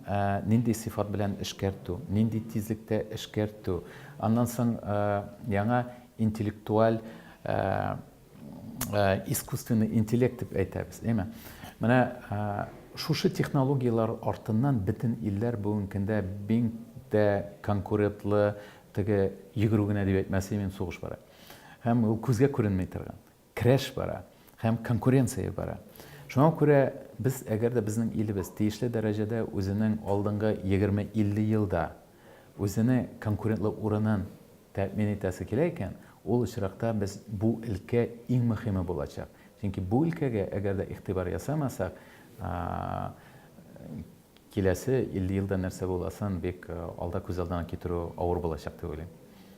нинди сыйфат белән эшкәртү, нинди тизлектә эшкәртү, аннан соң яңа интеллектуаль искусственный интеллект дип әйтәбез, әйме? Менә шушы технологияләр артыннан бөтен илләр бүгенге көндә бик тә конкурентлы теге йөгерү генә дип әйтмәс идем, сугыш бара. Һәм ул күзгә күренми торган. Крәш бара һәм конкуренция бара. Шуңа күрә без, әгәр дә безнең илебез тиешле дәрәҗәдә үзенең алдынгы егерме-илле елда үзене конкурентлы урынын тәэмин итәсе килә икән, ул очракта без бу өлкә иң мөхиме булачак. Чөнки бу өлкәгә әгәр дә игътибар ясамасак, киләсе илле елда нәрсә буласын бик алда күз алдына китерү авыр булачак дип уйлыйм.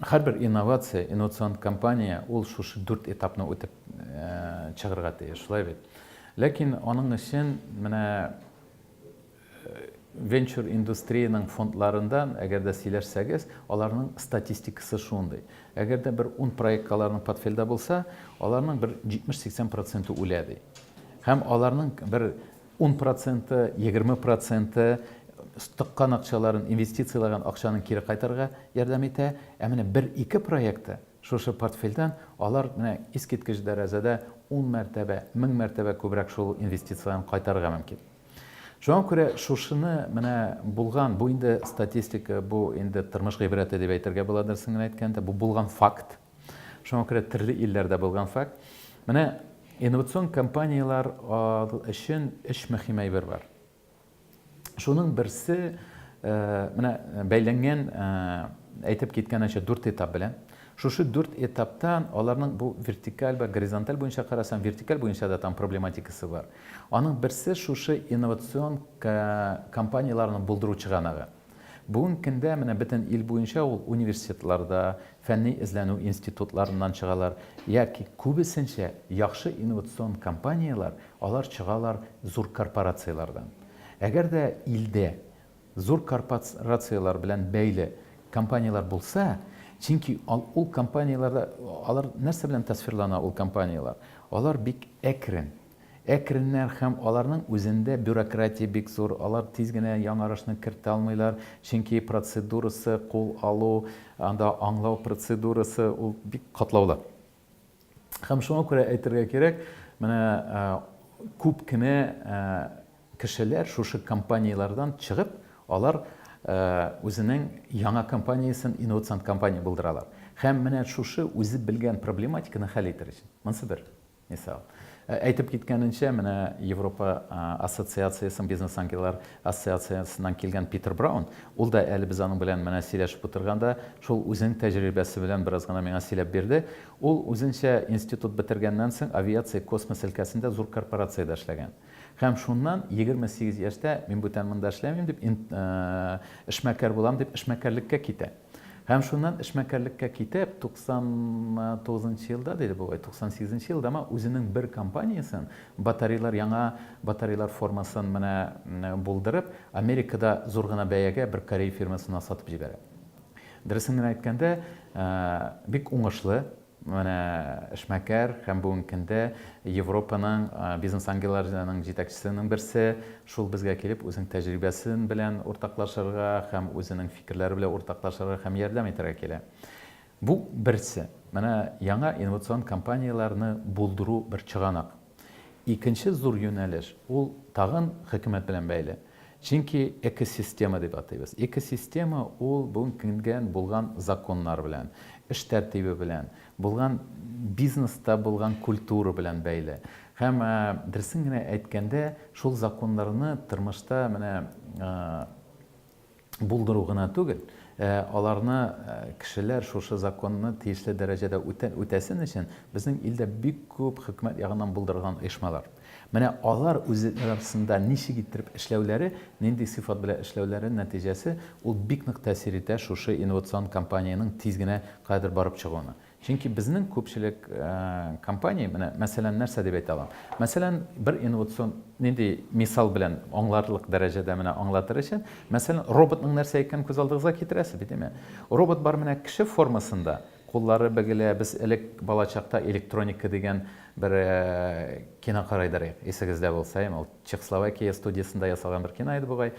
Һәрбер инновация, инновацион компания ул шушы дүрт этапны үтеп чыгырга тиеш, шулай бит? Ләкин аның өчен менә венчур индустриянең фондларында, әгәр дә сөйләшсәгез, аларның статистикасы шундый. Әгәр дә бер ун проектка аларның портфельдә булса, аларның бер 70-80 проценты үлә, ди. Һәм аларның бер Ун проценты, егерме проценты тыккан акчаларын, инвестицияләгән акчаны кире кайтарырга ярдәм итә. Ә менә бер-ике проекты шушы портфельдән алар менә искиткеч дәрәҗәдә ун мәртәбә, мең мәртәбә күбрәк шул инвестицияләрен кайтарырга мөмкин. Шуңа күрә шушыны менә булган, бу инде статистика, бу инде тормыш гыйбрәте дип әйтергә була, дөресен генә әйткәндә, бу булган факт. Шуңа күрә төрле илләрдә булган факт. Менә инновацион компанияләр өчен өч мөһим әйбер бар. Шуның берсе менә бәйләнгән әйтеп киткәнчә дүрт этап белән. Шушы дүрт этаптан аларның бу вертикаль вә горизонталь буенча карасаң, вертикаль буенча да там проблематикасы бар. Аның берсе шушы инновацион компанияләрне булдыру чыганагы. Бүгенге көндә менә бөтен ил буенча ул университетларда, фәнни эзләнү институтларыннан чыгалар, яки күбесенчә яхшы инновацион компанияләр, алар чыгалар зур корпорацияләрдән. Әгәр дә илдә зур корпорацияләр белән бәйле компанияләр булса, чөнки ул компанияләрдә алар нәрсә белән тасвирлана, ул компанияләр, алар бик әкрен, Әкреннәр һәм аларның үзендә бюрократия бик зур, алар тиз генә яңарышны кертә алмыйлар, чөнки процедурасы, кул алу, анда аңлау процедурасы, ул бик катлаулы. Һәм шуңа күрә әйтергә кирәк, менә күп кенә кешеләр шушы компанияләрдән чыгып, алар үзенең яңа компаниясен инновацион компания булдыралар. Һәм менә шушы үзе белгән проблематиканы хәл итәр өчен. Монысы бер. Мисал. Әйтеп киткәненчә, менә Европа ассоциациясенең бизнес ангеллар ассоциациясеннән килгән Питер Браун, ул да әле без аның белән менә сөйләшеп утырганда, шул үзенең тәҗрибәсе белән бераз гына миңа сөйләп бирде. Ул үзенчә институт бетергәннән соң авиация, космос өлкәсендә зур корпорациядә эшләгән. Һәм шуннан, егерме сигез яшьтә, мин бүтән монда эшләмим дип, ин, э, эшмәкәр булам дип, эшмәкәрлеккә китә. Һәм шуннан эшмәкәрлеккә китеп, туксан тугызынчы елда, диде бугай, туксан сигезенче елдамы, үзенең бер компаниясен, батарейлар, яңа батарейлар формасын менә булдырып, Америкада зур гына бәягә бер корей фирмасына сатып җибәрә. Дөресен генә әйткәндә, э, бик уңышлы. Менә эшмәкәр һәм бүгенге көндә Европаның бизнес ангелларының җитәкчесенең берсе шул безгә килеп үзенең тәҗрибәсен белән уртаклашырга һәм үзенең фикерләре белән уртаклашырга һәм ярдәм итәргә килә. Бу берсе. Менә яңа инновацион компанияләрне булдыру бер чыганак. Икенче зур юнәлеш, ул тагын хөкүмәт белән бәйле. Чөнки экосистема дип атыйбыз. Экосистема, ул бүген кенгән булган законнар белән, эш тәртибе белән, булган бизнеста булган культура белән бәйле. Һәм, дөресен генә әйткәндә, шул законнарны тормышта менә булдыру гына түгел, ә аларны кешеләр шушы законны тиешле дәрәҗәдә үтә, үтәсен өчен безнең илдә бик күп хөкүмәт ягыннан булдырылган оешмалар. Менә алар үзе арасында ничек иттереп эшләүләре, нинди сыйфат белән эшләүләре нәтиҗәсе, ул бик нык тәэсир итә шушы инновацион компаниянең тиз генә каядыр барып чыгуына. Чөнки безнең күпчелек компания, менә мәсәлән, нәрсә дип әйтә алам? Мәсәлән, бер инновацион, нинди мисал белән аңларлык дәрәҗәдә менә аңлатыр өчен, мәсәлән, роботның нәрсә икәнен күз алдыгызга китерәсез бит, димме? Робот бар менә кеше формасында, куллары бөгелә, без элек балачакта электроника дигән бер кино карый идек, исегездә булса, ул. Чехословакия студиясендә ясалган бер кино иде бугай.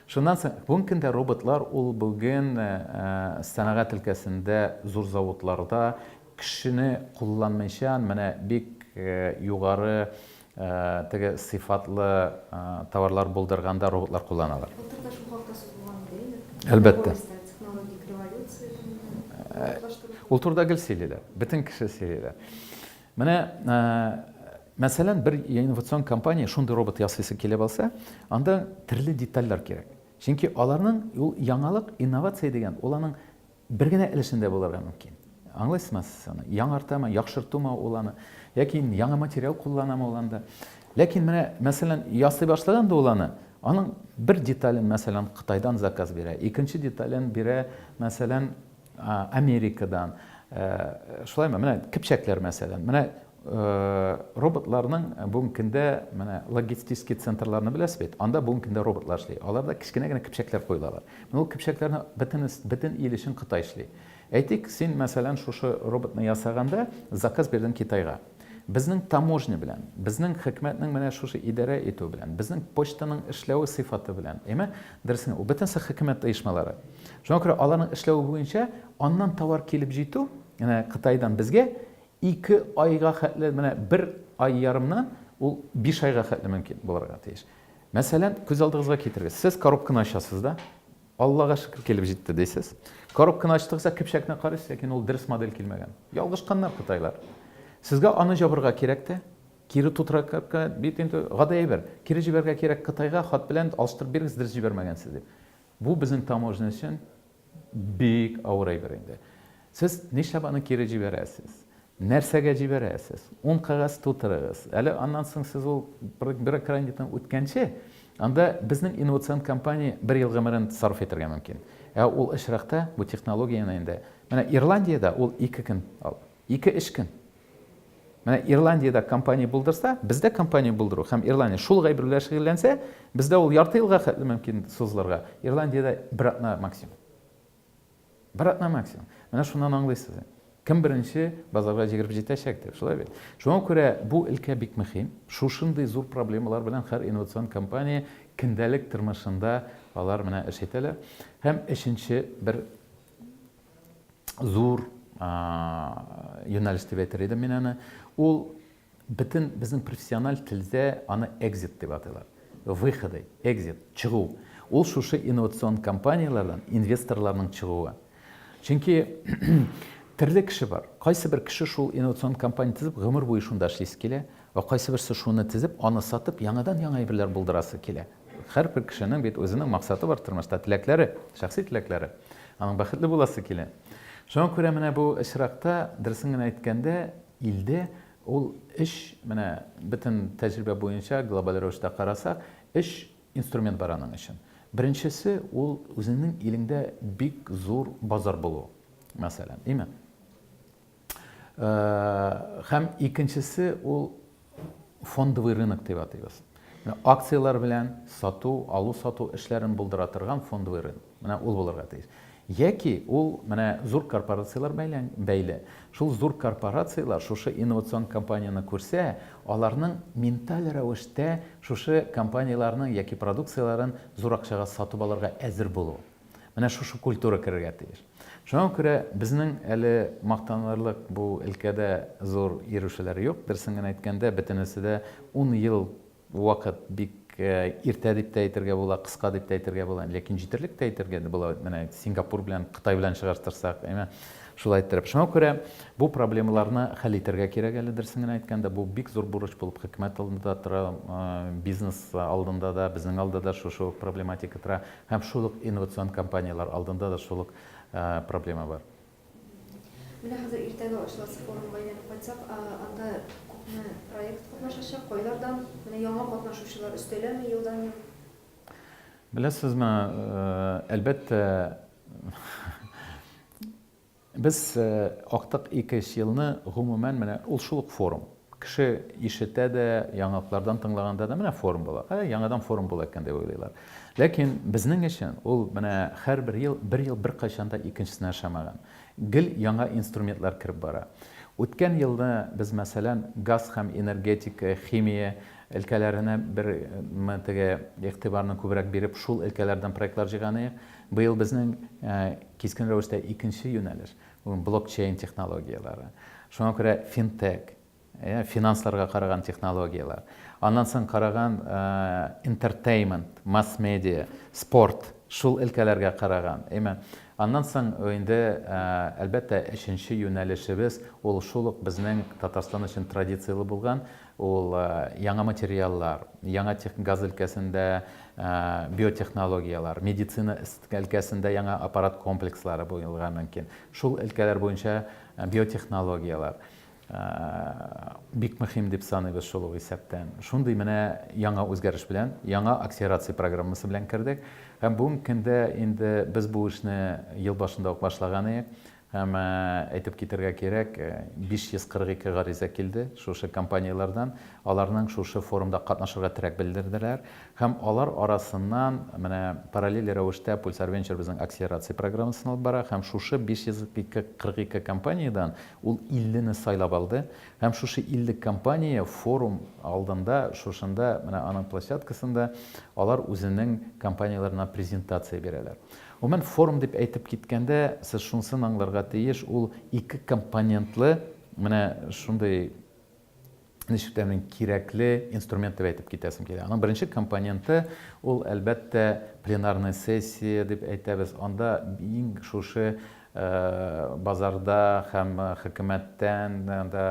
Шуннан соң бүгенге көндә роботлар ул бүген э, э, сәнәгать өлкәсендә зур заводларда кешене кулланмыйча менә бик э, югары теге сыйфатлы товарлар булдырганда роботлар кулланалар. Былтырда шул хакта сүз булган иде инде. Әлбәттә. Технологик революция. Ул турыда гел сөйлиләр. Бөтен кеше сөйлиләр. Менә, мәсәлән, бер инновацион компания шундый робот ясыйсы килеп алса, анда төрле детальләр кирәк. Чөнки аларның ул яңалык, инновация дигән, ул аның бер генә өлешендә булырга мөмкин. Аңлыйсызмы сез аны? Яңартамы, яхшыртумы ул аны, яки яңа материал кулланамы ул анда? Ләкин менә, мәсәлән, ясый башлаганда ул аны, аның бер детален, мәсәлән, Кытайдан заказ бирә, икенче детален бирә, мәсәлән, Америкадан, шулаймы, менә кепчәкләр мәсәлән. Менә роботларның бүгенге көндә менә логистический центрларны беләсез бит, анда бүгенге көндә роботлар эшли. Аларда кечкенә генә кепчәкләр куелалар. Менә ул кепчәкләрне бөтен, бөтен ил өчен Кытай эшли. Әйтик, син мәсәлән шушы роботны ясаганда заказ бирдең Китайга. Безнең таможня белән, безнең хикмәтнең менә шушы идарә итүе белән, безнең почтаның эшләве сыйфаты белән, әйме? Дөресен, ул бөтенесе хикмәт оешмалары. Шуңа күрә аларның эшләве буенча аннан товар килеп җитү, менә Кытайдан безгә ике айга хәтле, менә бер ай ярымнан ул биш айга хәтле мөмкин булырга тиеш. Мәсәлән, күз алдыгызга китерегез, сез коробканы ачасыз да, Аллага шөкер, килеп җитте, дисез. Коробканы ачтыгыз да көпчәкне карыйсыз, ләкин ул дөрес модель килмәгән. Ялгышканнар кытайлар. Сезгә аны җабырга кирәк тә, кире тутыракка, бит инде гади әйбер, кире җибәрергә кирәк Кытайга, хат белән алыштырып бирегез, дөрес җибәрмәгәнсез дип. Бу безнең таможня өчен бик авыр әйбер инде. Сез нишләп аны кире җибәрәсез? Нәрсәгә җибәрәсез? Ун кәгазь тутырыгыз. Әле аннан соң сез ул бюрократиядән үткәнче, анда безнең инновацион компания бер ел гомерен сарыф итәргә мөмкин. Ә ул очракта бу технологияне инде, менә Ирландиядә ул ике көн, ике эш көн. Менә Ирландиядә компания булдырса, бездә компания булдыру һәм Ирландия шул ук әйбер белән шөгыльләнсә, бездә ул ярты елга хәтле мөмкин сузылырга, Ирландиядә бер атна максимум. Бер атна максимум. Менә шуннан аңлыйсыз. Кем беренче базарга җигереп җитәчәк дип, шулай бит? Шуңа күрә бу өлкә бик мөһим. Шушындый зур проблемалар белән һәр инновацион компания көндәлек тормышында алар менә эш итәләр. Һәм өченче бер зур юнәлеш дип әйтер идем мин аны. Ул Бөтен безнең профессиональ телдә аны экзит дип атыйлар. Выходы, экзит, чыгу. Ул шушы инновацион компанияләрдән инвесторларның чыгуы. Чөнки төрле кеше бар. Кайсыбер кеше шул инновацион компания төзеп, гомер буе шунда эшлисе килә, ә кайсыберсе шуны төзеп, аны сатып, яңадан-яңа әйберләр булдырасы килә. Һәрбер кешенең бит үзенең максаты бар тормышта, теләкләре, шәхси теләкләре. Аның бәхетле буласы килә. Шуңа күрә менә бу очракта, дөресен генә әйткәндә, Илдә ул өч, менә бөтен тәҗрибә буенча глобаль рәвештә карасак, өч инструмент бар аның өчен. Беренчесе, ул үзеңнең илеңдә бик зур базар булу, мәсәлән, име? Һәм икенчесе, ул фондовый рынок дип атыйбыз. Менә акцияләр белән сату, алу-сату эшләрен булдыра торган фондовый рынок. Менә ул булырга тиеш. Яки ул менә зур корпорацияләр бәйлән, бәйле. Шул зур корпорацияләр шушы инновацион компанияне күрсә, аларның менталь рәвештә шушы компанияләрнең яки продукцияләрен зур акчага сатып алырга әзер булуы. Менә шушы культура керергә тиеш. Шуңа күрә безнең әле мактанырлык бу өлкәдә зур йөрүшәләр юк. Дөресен генә әйткәндә, бөтенесе дә ун ел вакыт бик иртә дип тә әйтергә була, кыска дип тә әйтергә була, ләкин җитәрлек тә әйтергә дә була. Менә Сингапур белән, Кытай белән чыгыштырсак, әйме? Шулай иттереп. Шуңа күрә бу проблемаларны хәл итәргә кирәк әле, дөресен генә әйткәндә. Бу бик зур бурыч булып хөкүмәт алдында тора, бизнес алдында да, безнең алда да шушы ук проблематика тора. Һәм шул ук инновацион компанияләр алдында да шул ук проблема бар. Менә хәзер иртәгә ачыласы форумга әйләнеп кайтсак, анда күпме проект катнашачак, кайлардан, менә яңа катнашучылар өстәләме елдан-ел? Беләсезме, әлбәттә, Без актык ике өч елны гомумән менә ул шул ук форум. Кеше ишетә дә, яңаклардан тыңлаганда да, менә форум була, әй, яңадан форум була икән дип уйлыйлар. Ләкин безнең өчен ул менә һәрбер ел, бер ел беркайчан да икенчесенә ошамаган. Гел яңа инструментлар кереп бара. Үткән елны без, мәсәлән, газ һәм энергетика, химия өлкәләренә бер теге игътибарны күбрәк биреп, шул өлкәләрдән проектлар җыйган идек. Быел безнең кискен рәвештә икенче юнәлеш, ул блокчейн технологияләре. Шуңа күрә финтек, финансларга караган технологияләр. Аннан соң караган интертеймент, масс-медиа, спорт, шул өлкәләргә караган. Аннан соң инде, әлбәттә, өченче юнәлешебез, ул шул ук безнең Татарстан өчен традицияле булган Ул яңа материаллар, яңа тех, газ өлкәсендә биотехнологияләр, медицина өлкәсендә яңа аппарат комплекслары булырга мөмкин. Шул өлкәләр буенча биотехнологияләр бик мөһим дип саныйбыз шул ук исәптән. Шундый менә яңа үзгәреш белән, яңа акселерация программасы белән кердек. Һәм бүгенге көндә инде без бу эшне ел башында ук башлаган идек. Һәм әйтеп китәргә кирәк, 542 гариза килде шушы компанияләрдән. Аларның шушы форумда катнашырга теләк белдерделәр. Һәм алар арасыннан менә параллель рәвештә Pulsar Venture безнең акселерация программасын алып бара. Һәм шушы 542 компаниядән ул 50 не сайлап алды. Һәм шушы 50 компания форум алдында, шушында, менә аның площадкасында алар үзенең компанияләренә презентация бирәләр. Гомумән, форум дип әйтеп киткәндә, сез шунысын аңларга тиеш, ул ике компонентлы менә шундый, ничек тә мин кирәкле инструмент дип әйтеп китәсем килә. Аның беренче компоненты, ул, әлбәттә, пленарная сессия дип әйтәбез, анда иң шушы Базарда һәм хөкүмәттән дә,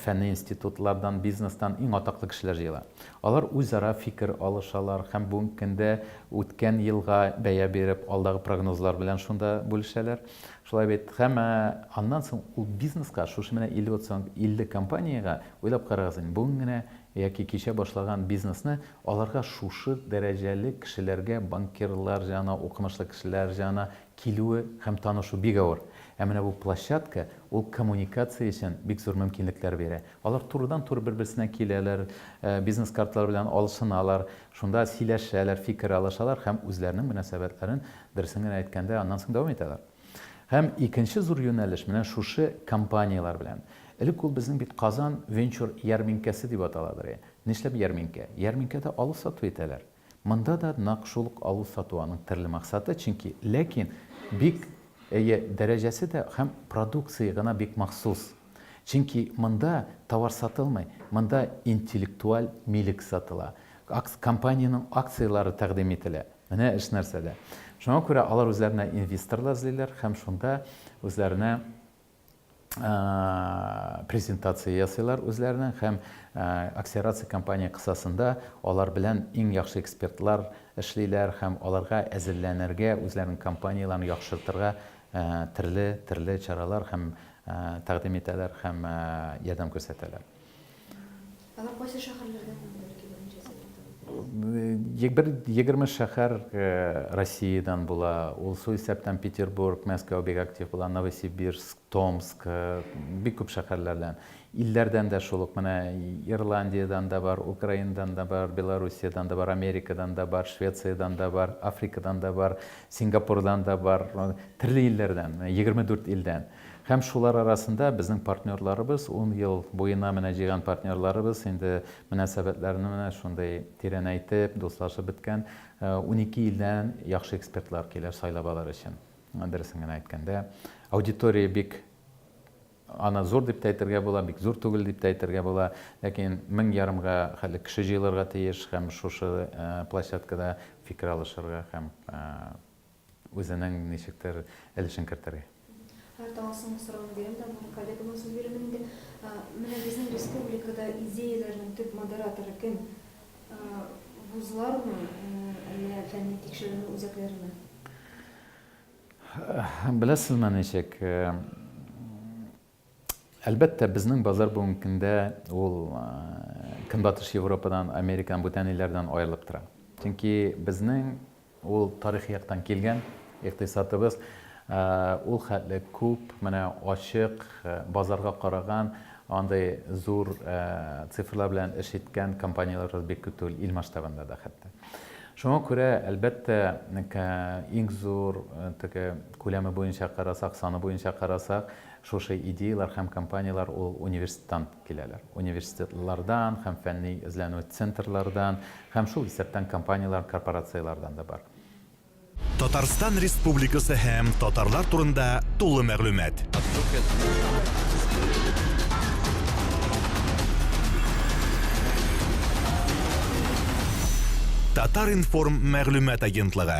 фәнни институтлардан, бизнестан иң атаклы кешеләр җыела. Алар үзара фикер алышалар һәм бүгенге көндә үткән елга бәя биреп, алдагы прогнозлар белән шунда бүлешәләр. Шулай бит? Һәм аннан соң ул бизнеска, шушы менә 50 компаниягә, уйлап карагыз инде, бүген генә яки кичә башлаган бизнесны аларга шушы дәрәҗәле кешеләргә, банкирлар җаны, укымышлы кешеләр җаны Килүе һәм танышу бик авыр. Ә менә бу площадка, ул коммуникация өчен бик зур мөмкинлекләр бирә. Алар турыдан-туры бер-берсенә киләләр, бизнес-картлар белән алышыналар, шунда сөйләшәләр, фикер алышалар һәм үзләренең мөнәсәбәтләрен, дөресен генә әйткәндә, аннан соң дәвам итәләр. Һәм икенче зур юнәлеш менә шушы компанияләр белән. Элек ул безнең бит Казан Венчур ярминкәсе дип атала бери. Нишләп ярминкә? Ярминкәдә алу-сату итәләр. Монда да нак шул ук алу-сату аның терле максаты, чөнки, ләкин бик, әйе, дәрәҗәсе дә һәм продукция гына бик махсус. Чөнки монда товар сатылмый, монда интеллектуаль милек сатыла, акц компаниянең акцияләре тәкъдим ителә. Менә эш нәрсәдә. Шуңа күрә алар үзләренә инвесторлар эзлиләр һәм шунда үзләренә презентация ясыйлар үзләренең һәм акселерация компания кысасында алар белән иң яхшы экспертлар эшлиләр һәм аларга әзерләнергә, үзләренең компанияләрен яхшыртырга төрле чаралар һәм тәкъдим итәләр һәм ярдәм күрсәтәләр. Алар кайсы шәһәрләрдән һәм бәлки берничә сәгатьтә үтә? Бер егерме шәһәр Россиядән була. Ул су исәптән Петербург, Мәскәү бик актив була, Новосибирск, Томск, бик күп шәһәрләрдән. Илләрдән дә шул ук, менә Ирландиядән дә бар, Украинадан да бар, Белоруссиядән да бар, Америкадан да бар, Швециядән да бар, Африкадан да бар, Сингапурдан да бар, төрле илләрдән, егерме дүрт илдән. Һәм шулар арасында безнең партнерларыбыз, ун ел буена менә җыйган партнерларыбыз инде мөнәсәбәтләрне менә шундый тирәнәйтеп, дуслашып беткән унике илдән яхшы экспертлар килә сайлап алыр өчен. Дөресен генә әйткәндә, аудитория бик аны зур дип тә әйтергә була, бик зур түгел дип тә әйтергә була, ләкин мең ярымга хәтле кеше җыелырга тиеш һәм шушы площадкада фикер алышырга һәм Үзенең ничектер өлешен кертергә. Һәр таңга соңгы сорауны бирәм дә бүген коллегама сүз бирәм инде. Менә безнең республикада идеяләрнең төп модераторы кем? Вузлармы, әллә фәнни тикшеренү үзәкләреме? Беләсезме ничек? Әлбәттә, безнең базар бүгенге көндә ул Көнбатыш Европадан, Америкадан, бүтән илләрдән аерылып тора. Чөнки безнең ул тарихи яктан килгән икътисадыбыз ул хәтле күп, менә ачык, базарга караган, андый зур цифрлар белән эш иткән компанияләребез бик күп түгел, ил масштабында да хәтта. Шуңа күрә, әлбәттә, иң зур теге күләме буенча карасак, саны буенча карасак, Шушы идеяләр һәм компанияләр ул университеттан киләләр. Университетлардан һәм фәнни эзләнү центрлардан һәм шул исәптән компанияләр, корпорацияләрдән дә бар. Татарстан Республикасы һәм татарлар турында тулы мәгълүмат. Татар-информ мәгълүмат агентлыгы.